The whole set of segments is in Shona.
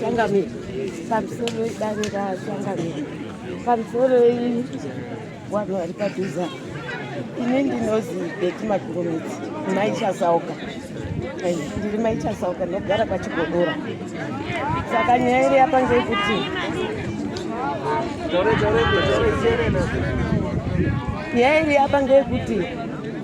Changamire pamusoro idare raChangamire pamusoro vanhu vari padhuza ini ndinozi beti makurumidzi maichasauka ndiri maichasauka ndinogara kwachigodora saka nyaya iri yapa ngekuti nyaya iri yapa ngekuti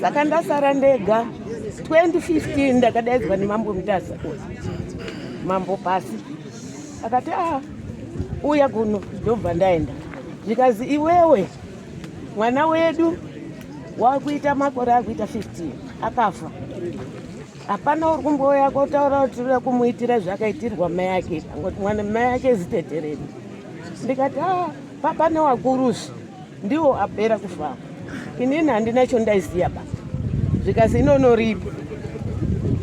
saka ndasara ndega 2015 ndakadaidzwa nemambo mutasa mambo pasi akati a ah, uya kuno ndobva ndaenda zvikanzi iwewe mwana wedu wakuita makore akuita 15 akafa hapana uri kumbouya kotaura kuti uda kumuitira zvakaitirwa mai ake angoti mwana mai ake zitetereni ndikati a ah, papane wakurusi Ndiwo apera kufamba. Inini handina chondaiziya ba. Zvikazi inono ripi.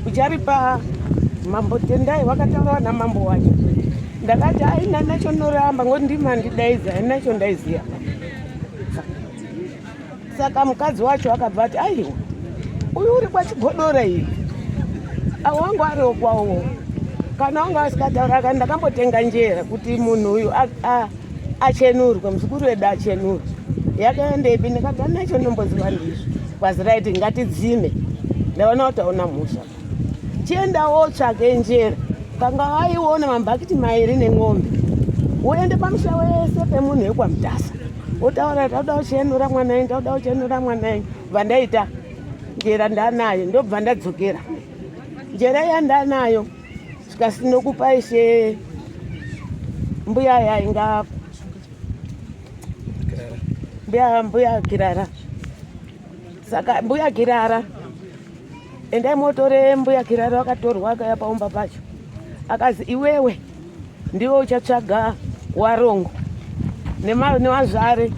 Ucharipa mambo Tendai wakataura na mambo wacho. Ndakati aina nacho noramba ngoti ndimi andidaiza aina chondaiziya. Saka mukadzi wacho akabva ati aiwa uyu uri kwachigodora iyi awangu ari okwawo kana wanga asikataura ka ndakambotenga njera kuti munhu uyu achenurwe muzukuru wedu achenurwe yakaendepi ndikabva nacho ndomboziva ndizvo kwazi raiti ngatidzime ndaona kuti aona mhosva chienda wotsvake njera kanga waiona mambhakiti mairi nen'ombe woende pamusha wese pemunhu wekwamudhasa wotaura tauda uchenura mwana wenyu tauda uchenura mwana wenyu bva ndaita njera ndanayo ndobva ndadzokera njera yandanayo Sika sinokupa ishe mbuya yainga mbuya mbuya kirara saka mbuya kirara endai motore mbuya kirara akatorwa akaya paumba pacho akazi iwewe ndiwe uchatsvaga warongo nevazvare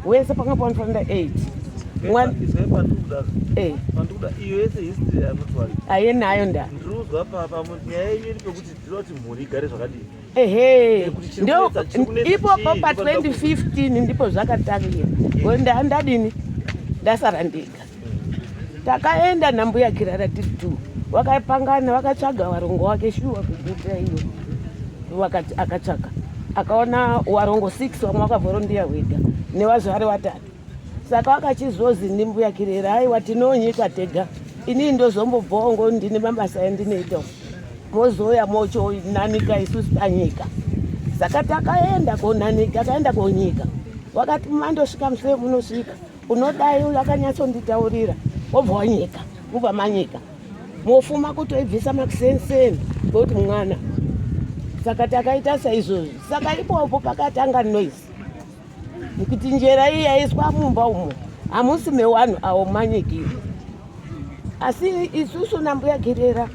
wese panga panofanira 8 eh. aye nayo nda ehe ipopo pa 2015 ndipo zvakatangira ndadini ndasara ndega takaenda nambuya kirara tiri two vakapangana vakatsvaga warongo wake shuwa kuguta iyo vakati akatsvaga akaona warongo six vamwe vakavorondiya wega nevazvari vatatu saka vakachizozi ndimbuya kirera aiwa tinonyika tega inii ndozombobvawo ngo ndine mabasa endinoita mozouya mochonanika isusu tanyika saka takaenda konanika takaenda konyika wakati mandosvika musee munosvika Unodai uyu akanyatsonditaurira wobva wanyika mubva manyika mofuma kutoibvisa makusenseni ngokuti mwana saka takaita saizvozvi saka ipopo pakatanga noise nekuti njera iyi yaiswa mumba umo hamusi mewanhu awo manyiki asi isusu nambuya girera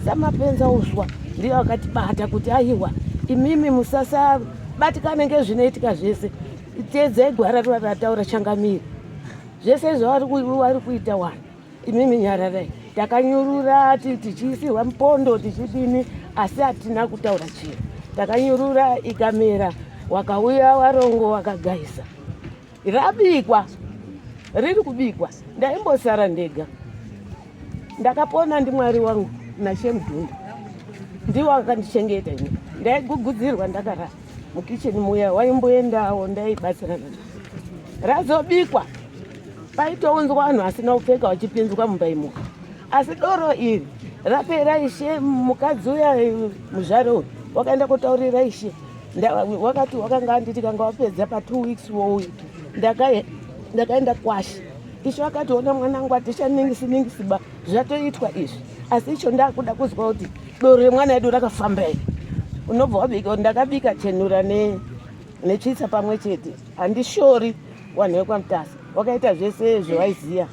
samapenza uswa ndiyo akatibata kuti aiwa imimi musasabatikane ngezvinoitika zvese Teedzai gwara rataura changamire zvese zvavari kuita wani imimi nyararai takanyurura tichiisirwa mupondo tichidini asi hatina kutaura chiro takanyurura ikamera wakauya warongo wakagaisa rabikwa riri kubikwa ndaimbosara ndega ndakapona ndimwari wangu nashemdhunda ndiwo akandichengeta ini ndaigugudzirwa ndakarara mukicheni muya waimboendawo ndaibatsirana razobikwa paitounzwa vanhu asina kupfeka vachipinzwa mumba imo asi doro iri rapera ishe mukadzi uya eh, muzvare uyu wakaenda kutaurira ishe wakati wakanga anditi kanga wapedza patwo weeks wouyu ndakaenda kwashi ishe wakationa mwanangu atishaningisi ningisi ba zvatoitwa izvi asi icho ndakuda kuzwa kuti doro remwana edu rakafamba iri unobva wabika ndakabika chenura netsvitsa pamwe chete handishori wanhu wekwamutasa wakaita zvese zvewaiziva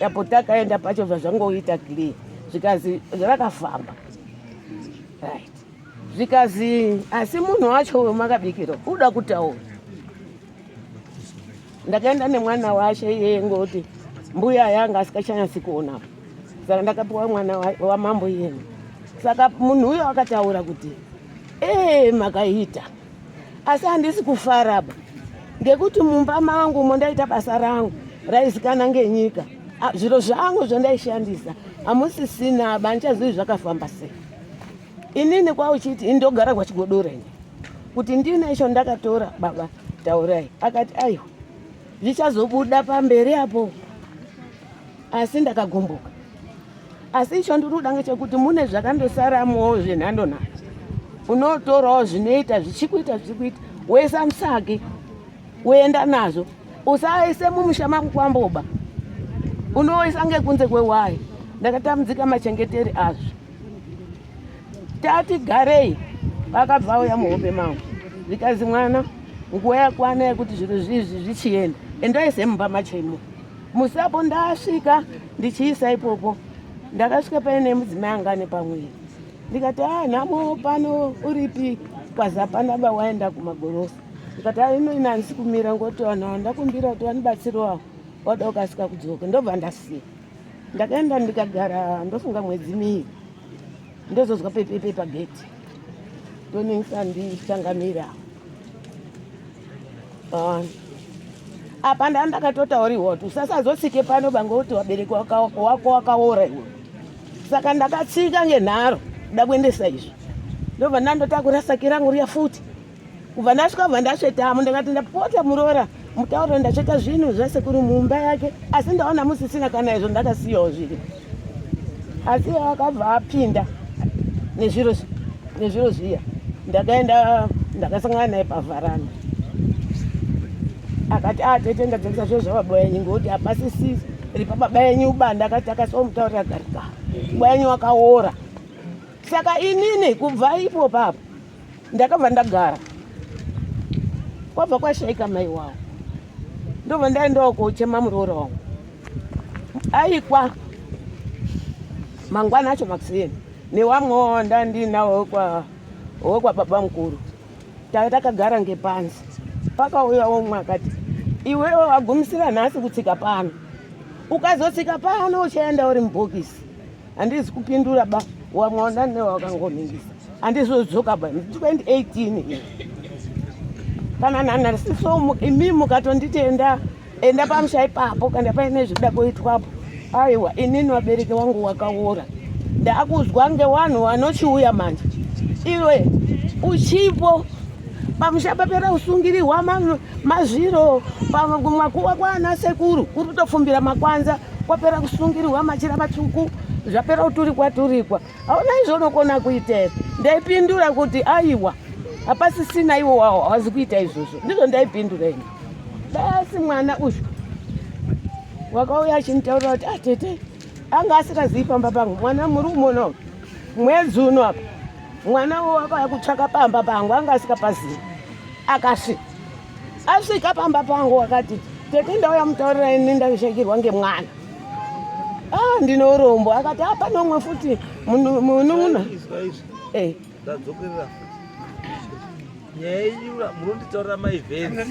apo takaenda pacho bva zvangoita clear zvikazi rakafamba right zvikazi asi munhu wacho wemakabikiro uda kutaura ndakaenda nemwana washe iyeye ngoti mbuya yanga asikachanyasi kuona saka ndakapiwa mwana wamambo iyena saka munhu uyo akataura kuti ee makaita asi handisi kufaraba ngekuti mumba mangu mondaita basa rangu raizikana ngenyika zviro zvangu zvandaishandisa hamusisina banichazivi zvakafamba sei inini kwauchiti indogara kwachigodora ini kuti ndine icho ndakatora baba taurai akati aiwa zvichazobuda pamberi apo asi ndakagumbuka asi icho ndinoda ngechekuti mune zvakandosaramowo zvenhando nhando unotorawo zvinoita zvichikuita zvichikuita woisa musaki woenda nazvo usaise mumusha mako kwamboba unoisa ngekunze kwewayi ndakatambudzika machengeteri azvo tati garei vakabva vauya muhope mavo zvikanzi mwana nguva yakwana yekuti zvinhu zvizvi zvichienda endai semumba machemo musapo ndasvika ndichiisa ipopo ndakasvika paine mudzimai angane pamwiri ndikati a ah, nhamo pano uripi kwaza panaba waenda kumagorosa ndikati a ah, ino ina handisi kumira ngoti vanhu vandakumbira kuti vanibatsiriwawo wada ukasika kudzoka ndobva ndasiya Ndakaenda ndikagara ndofunga mwedzi mii ndozozwa pepepe pageti ndoningisa ndichangamira ah, apa ndaa ndakatotauriwa kuti usasazotsike pano bange kuti wabereki wako wakaora iwe saka ndakatsika ngenharo kuda kuendesa izvi ndobva ndandotakura saki rangu riya futi kubva ndasvika kubva ndasvetamo ndakati ndapota muroora mutauro ndasveta zvinhu zvasekuru mumba yake asi ndaona musisina kana izvo ndakasiyawo zviri asi akabva apinda nezviro nezviro zviya ndakaenda ndakasangana naye pavharana akati atete ah, ndadzokisa zviro zvababa yenyu ngokuti hapasisisi ripa baba yenyu ubanda akati akasiwa mutaurira garika baba yenyu wakaora saka inini kubva ipo papo ndakabva ndagara kwabva kwashaika mai wavo ndobva ndaendawo kochema muroora wangu aikwa mangwana acho makuseni newamwewo ndandinawo kwa wekwa baba mukuru tave takagara ngepanzi pakauya womwe akati iwewo wagumisira nhasi kutsika pano ukazotsika pano uchaenda uri mubhokisi Handizi kupindura ba wamwaona newe wakangoningisa handizodzoka ba 2018 kana nana sisomu imi mukatonditi enda enda pamusha ipapo kana paine zvida kuitwapo aiwa inini vabereki wangu wakaora ndakuzwa ngewanhu wanochiuya manje iwe uchipo pamusha papera usungirihwa mazviro pamwe kumakuva kwaana sekuru kuri kutofumbira makwanza kwapera kusungirirwa machira matsvuku zvapera kuturikwa turikwa hauna izvonokona kuitei ndaipindura kuti aiwa hapasisina iwo wawo hawazi kuita izvozvo ndizvo ndaipindura ini basi mwana uyu wakauya achinitaurira kuti atete ah, anga asikazivi pamba pangu mwana muri umono mwedzi uno apa mwana wo wakauya kutsvaka pamba pangu anga asikapazivi akasvika asvika pamba pangu wakati tete ndauya mutaurira ini ndaishakirwa ngemwana ah, ndinorombo akati apa ah, nomwe futi munun'una eh. ndadzokerera nyaya yenyu murunditaurira maivenzi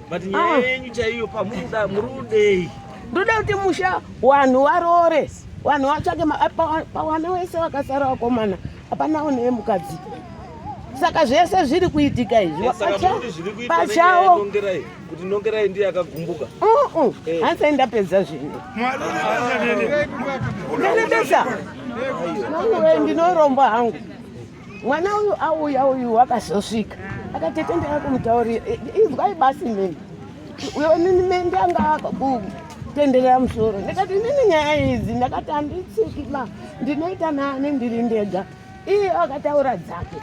but nyaya ah. yenyu chaiyo pamuruda murudei ndoda kuti musha wanhu waroore wanhu watsvake pawana wese wakasara wakomana Hapana one yemukadzi. Saka zvese zviri kuitika izvi. Eh, saka kuti zviri kuitika pachawo. Nongerai kuti nongerai ndiye akagumbuka. Uh uh. Eh. Hansa ndapedza zvinhu. Mwari unobesa. Nongerai ndinoromba hangu. Mwana uyu auya uyu wakazosvika. Akatetendera kumutaurira. Eh, Izwai basi mimi. Uyo nini mende anga tenderera musoro ndikati ndini nyaya idzi ndakati handitsiki ma ndinoita nani ndiri ndega iye akataura dzake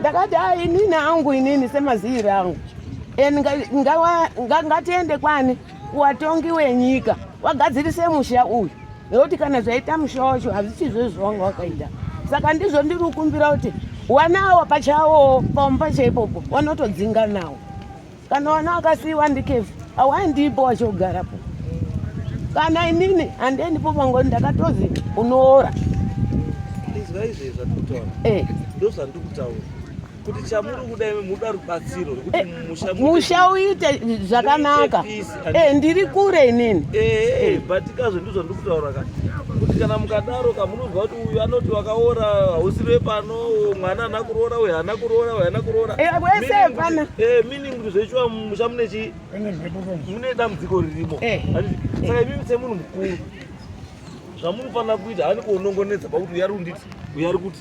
ndakati a inini angu inini semaziiri angu and ngatiende kwani watongi wenyika wagadzirise musha uyu nekuti kana zvaita musha wacho hazvichizvo zvawanga wakaita saka ndizvo ndiri kukumbira kuti wanawo pachawo pamupasha ipopo wanotodzinga nawo Kana wana wakasiiwa ndikefu awaindipo wachogarapo kana inini handeendipo pangoni ndakatozi unoora izwa izvi zvatikutaura eh. ndo zvandikutaura kuti chamuri kuda muda rubatsiro rekuti eh, musha uite zvakanaka Eh, ndiri kure inini eh, eh, but kazvo ndizvo ndiri kutaura ka kuti kana mukadaro ka munonzwa kuti uyu anoti wakaora hausi vepano mwana ana kuroora uyu haana kuroora uyu haana kuroora wese hapana meaning kuti zvechiwa musha mune chii mune dambudziko ririmo saka imimi semunhu mukuru zvamunofanira kuita hani kuonongonedza pakuti uyari unditi uyari kuti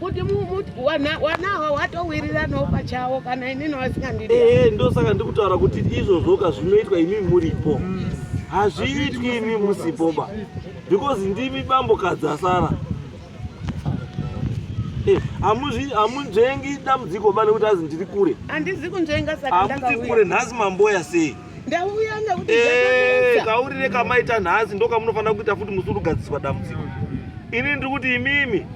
kuti wanawa watowiriranawo pachawo kana inini wasingandidi ehe eh, ndosaka ndiri kutaura kuti izvozvoka zvinoitwa imi muripo mm. hazviitwi imi musipoba because ndimi bambokadzi asara eh, hamunzvengi dambudziko ba nekuti azi ndiri kure handizi kunzvenga saka kure nhasi mamboya sei ndauya nekuti eh, kaurire kamaita nhasi ndokamunofanira kuita futi musi urugadziswa dambudziko ini ndiri kuti imimi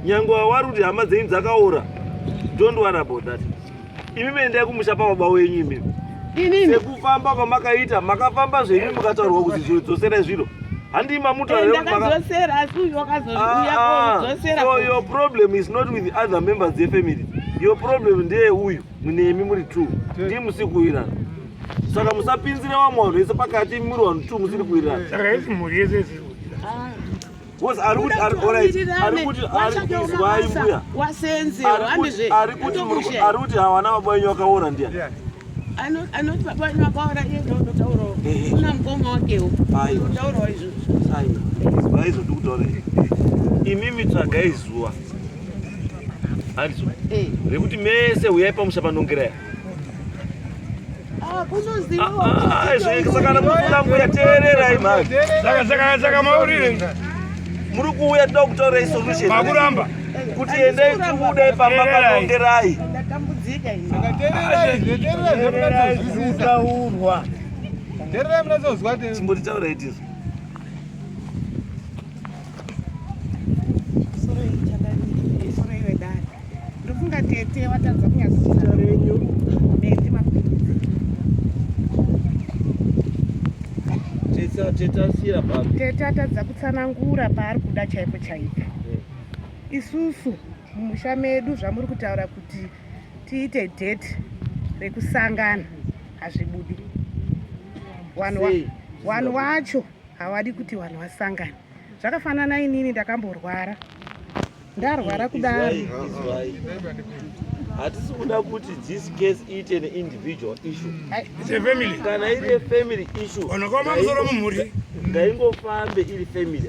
nyange wawari kuti hama dzenyu dzakaora don't worry about that imimi endai kumusha pababa wenyu imimi sekufamba kwamakaita makafamba zvenyu mukataurwa kuti zviro dzoserai zviro handii mamutaaoyour ah, ah. problem is not with other members yefamily your problem ndeye uyu munemi muri two ndii musiri kuwirana saka musapinzire vamwe vanhu vese pakati imi muri vanhu two musiri kuwirana saka isi mhuri yese isiri ari kuti havana baba wenyu vakaora ndiya anoti baba wenyu vakaora iye ndotaurawo una mukoma wakewo ndotaurawo izvozvo aizoti kutaura imimi tsvagai zuva handiso eh. rekuti mese huyai pamusha panongeraya ah, ah, ah, sakana mufunga mbuya teererai mhani saka maurire muri kuuya toda kutorai solution makuramba kuti endai tibude pamba panongerai zvisaurwa chimbotitaura itizo tete watadza kunyazita renyu nende mapinzi tete atadza kutsanangura paari kuda chaipo chaipo isusu mumusha medu zvamuri kutaura kuti tiite date rekusangana hazvibudi wanhu wacho hawadi kuti vanhu vasangane zvakafanana inini ndakamborwara ndarwara kudaro hatisi kuda kuti this case iite an individual issue kana iri family issueonokomamusoro mumhuri ngaingofambe iri family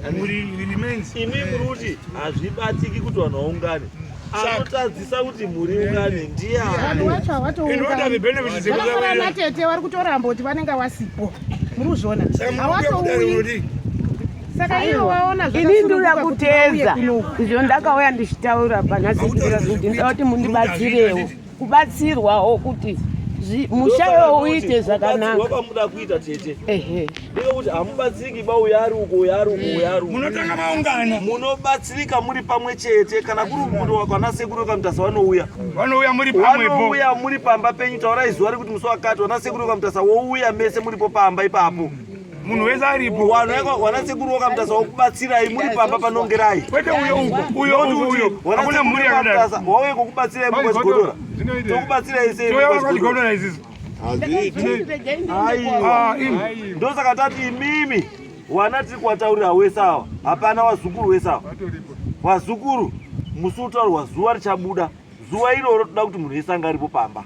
imi muri kuti hazvibatiki kuti vanhu vaungane anotadzisa kuti mhuri ungane ndiani wacho hawatoungana matete vari kutoramba kuti vanenge wasipo muri kuzviona hawatouyi saka ivo waona ini ndinoda kuteza izvo ndakauya ndichitaura panhasi kuti ndoda kuti mundibatsirewo kubatsirwawo kuti musha iwo uite zvakanaka kwamuda kuita tete ndeyekuti hamubatsiriki ba uyo ari uko uyo ari uko uyo ari uko munotanga maungana munobatsirika muri pamwe chete kana kuri kurowa kwana sekuru kamutasa vanouya vanouya muri pamwe vanouya muri pamba penyu taurai zuva rekuti musi wakati vana sekuru kamutasa wouya mese muripo pamba ipapo munhu wese aripo wana sekuru wakamutasa wakubatsirai muri pamba panongerai kwete uyo uko uyo uyo hakuna mhuri yakadaro wauye kokubatsirai mukwachigodora tokubatsirai sei mukwachigodora izizi ah, ndosaka tati imimi wana tiri kuwataurira wese awa hapana wazukuru wese awa wazukuru musi utaurwa zuva richabuda zuva iroro toda kuti munhu wese anga aripo pamba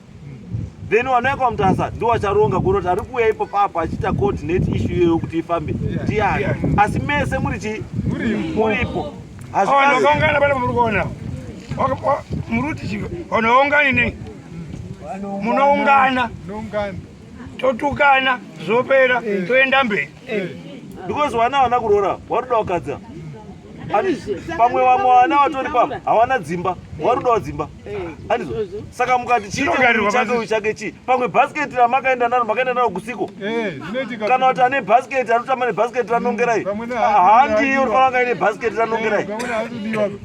then wanauya kwamutasa ndo wacharonga kuona kuti ari kuuya ipo papo achiita coordinate ishu iyoyo kuti ifambe ndiani asi mese muri chii muripo hazviaongana pane muri kuona muruti onoongani nei munoungana totukana zvopera toenda mberi because vana vana kuroora varuda wakadza pamwe vamwe vana vatori pamwe havana dzimba warudawo dzimba anizvo saka mukati chiiteuchake chake chii pamwe bhasiketi ramakaenda naro makaenda naro kusiko kana kuti ane bhasiketi anotamba nebhasiketi ranongerai handi urifanira kaine bhasiketi ranongerai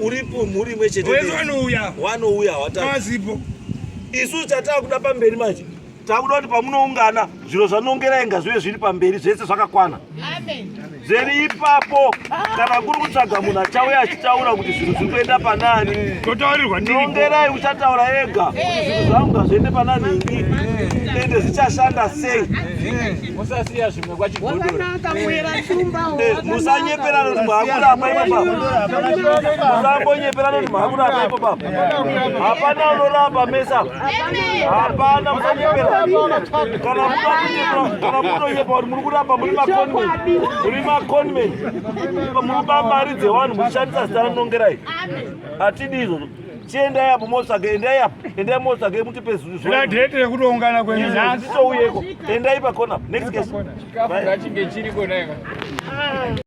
uripo mhuri imwe chete wanouya wanouya hawatazipo isu chatakuda pamberi manje takuda kuti pamunoungana zviro zvanongera inga zvive zviri pamberi zvese zvakakwana zviri ipapo kana kuri kutsvaga munhu achauya achitaura kuti zvinhu zviri kuenda panani nongerai uchataura ega kuti zvinhu zvangu ngazviende panani ini ende zvichashanda sei musasiya zvimwe kwachigodormusanyepera noti mahakura apaipo baba musambonyepera noti mahakura apaipo baba hapana unorapa mesa hapana musanyepera kana mutonyepa kuti muri kurapa muri maconmen muri maconmen muri bamari dzevanhu muchishandisa zita ranongerai hatidi izvozvo chiendai apo motsvage endai apo endai motsvage mutipe zviratireto rekutoungana kwenhasi touyeko endai pakona next case chikafu ngachinge chiriko neka